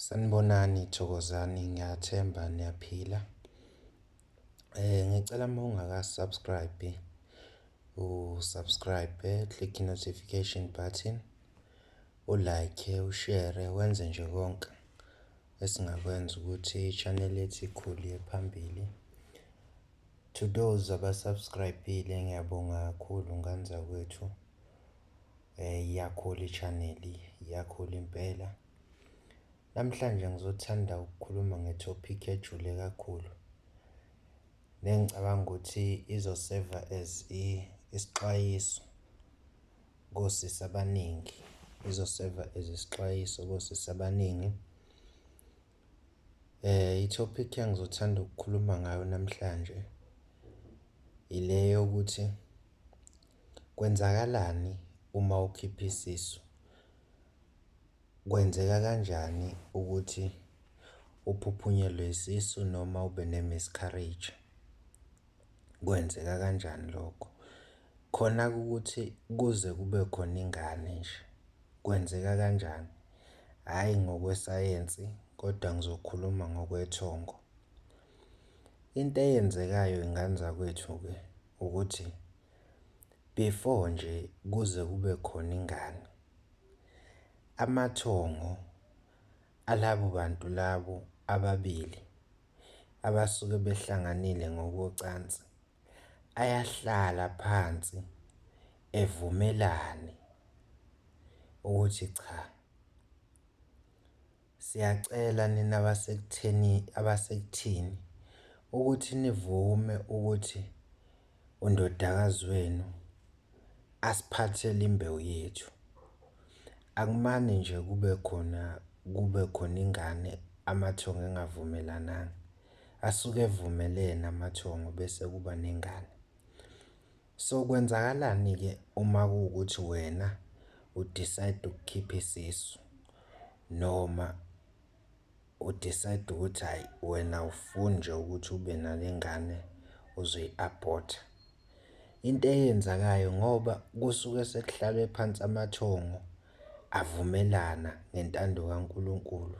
Sanibonani Thokozani ngiyathemba niyaphila. Eh ngicela uma ungaka subscribe u subscribe click notification button u like u share wenze nje konke esingakwenza ukuthi channel yethu ikhule phambili. To those abasubscribile ngiyabonga kakhulu nganzakwethu. Eh iyakhula ichannel, iyakhula impela. Namhlanje ngizothanda ukukhuluma ngetopic ejule kakhulu. Nengicabanga ukuthi izoseva as isixwayiso kosisi abaningi. Izoseva as isixwayiso kosisi abaningi. Eh itopic engizothanda ukukhuluma ngayo namhlanje ile yokuthi Kwenzakalani uma ukhipha isisu? Kwenzeka kanjani ukuthi uphuphunyelwe isisu noma ube ne-miscarriage? Kwenzeka kanjani lokho? Khona ukuthi kuze kube khona ingane nje, kwenzeka kanjani? Hhayi ngokwesayensi kodwa ngizokhuluma ngokwethongo. Into eyenzekayo ngane zakwethu-ke ukuthi. before nje kuze kube khona ingane amathongo alabo bantu labo ababili abasuke behlanganile ngokocansi ayahlala phansi evumelane ukuthi cha Siyacela nina abasekutheni abasekuthini ukuthi nivume ukuthi undodakazi wenu asiphathele imbewu yethu. Akumane nje kube khona kube khona ingane amathongo engavumelananga. Asuke evumelene amathongo bese kuba nengane. So kwenzakalani ke uma kuwukuthi wena u decide ukukhipha isisu noma u decide ukuthi hayi wena ufuni nje ukuthi ube nalengane uzoyi abort into eyenzakayo ngoba kusuke sekuhlalwe phansi amathongo avumelana ngentando kaNkuluNkulu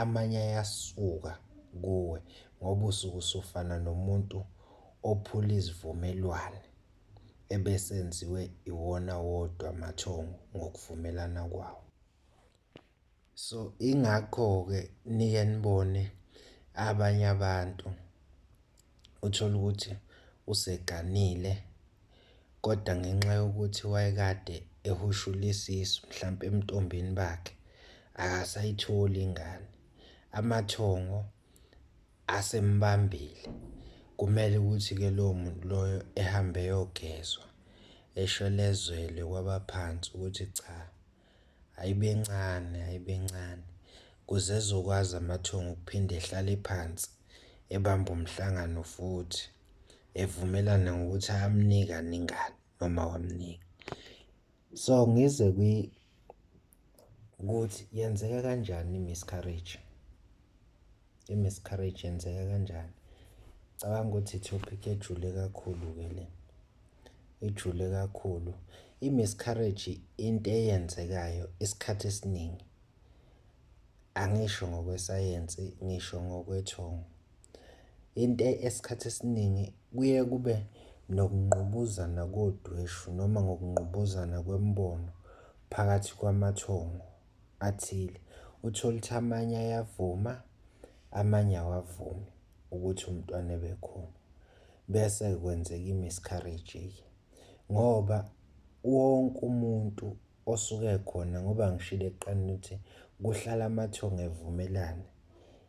amanye ayasuka kuwe ngoba usuke usufana nomuntu ophula izivumelwane ebesenziwe iwona wodwa amathongo ngokuvumelana kwawo. So ingakho-ke nike nibone abanye abantu uthole ukuthi useganile kodwa ngenxa yokuthi wayekade ehushula isisu mhlampe emntombini bakhe akasayitholi ingane amathongo asembambile kumele ukuthi ke lowo muntu loyo ehambe eyogezwa eshelezwele kwabaphansi ukuthi cha Ayibencane, ayibencane. Kuze ezokwazi amathongo ukuphinde ehlale phansi, ebambe umhlangano futhi, evumelana ngokuthi ayamnika aningani noma wamnika. So ngize kwi ukuthi yenzeka kanjani i-miscarriage. I-miscarriage yenzeka kanjani? Cabanga ukuthi i-topic ejule kakhulu-ke le. Ejule kakhulu. I-miscarriage into eyenzekayo isikhathi esiningi. Angisho ngokwesayensi, ngisho ngokwethongo. Into esikhathi esiningi kuye kube nokungqubuzana kodweshu noma ngokungqubuzana kwemibono phakathi kwamathongo. athile uthole ukuthi amanye ayavuma amanye awavumi ukuthi umntwana ebekhona bese kwenzeka i-miscarriage ngoba wonke umuntu osuke khona ngoba ngishilo ekuqaleni ukuthi kuhlala amathongo evumelana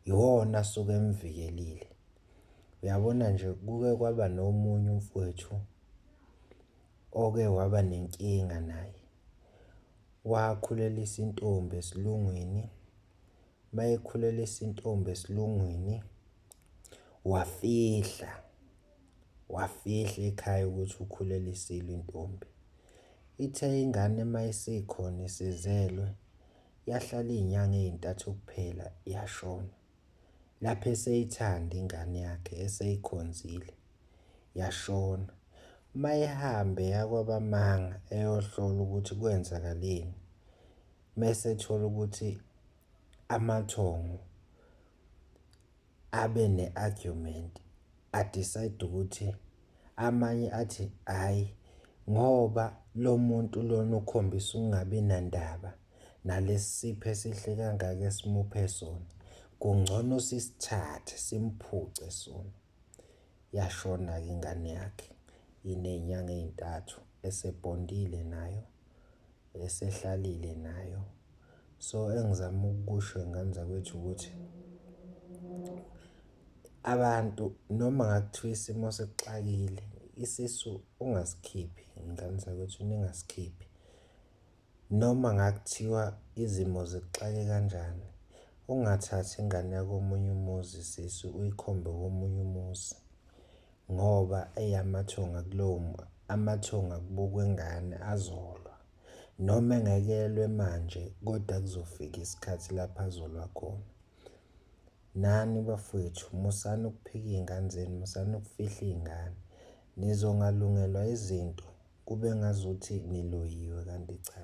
iwona asuke emvikelile uyabona nje kuke kwaba nomunye umfowethu oke waba nenkinga naye Wakhulelisa intombi esilungwini, mayekhulelisa intombi esilungwini wafihla, wafihla ekhaya ukuthi ukhulelisile intombi. Ithe ingane mayisekhona isizelwe yahlala iy'nyanga ey'ntathu kuphela yashona. lapho eseyithanda ingane yakhe eseyikhonzile yashona mayihambe yakwabamanga eyohlola ukuthi kwenzakaleni mese ethola ukuthi amathongo abe ne-argument adecide ukuthi amanye athi hhayi ngoba lo muntu lona ukhombisa ukungabi nandaba nalesipho esihle kangaka esimuphe sona kungcono sisithathe simphuce sona yashona-ke ingane yakhe iney'nyanga ey'ntathu esebhondile nayo esehlalile nayo so engizama ukukusho ingane zakwethu ukuthi abantu noma ngakuthiwa isimo sekuxakile isisu ungasikhiphi ingane zakwethu ningasikhiphi Noma ngakuthiwa izimo zikuxake kanjani, ungathathi ingane yakomunye umuzi sisi uyikhombe komunye umuzi ngoba eyamathonga kulowo amathonga kubukwa ingane azolwa. Noma engeke elwe manje kodwa kuzofika isikhathi lapho azolwa khona. Nani bafwethu musani ukuphika iy'ngane zenu, musani ukufihla iy'ngane. Nizongalungelwa izinto kube ngazuthi niloyiwe kanti cha.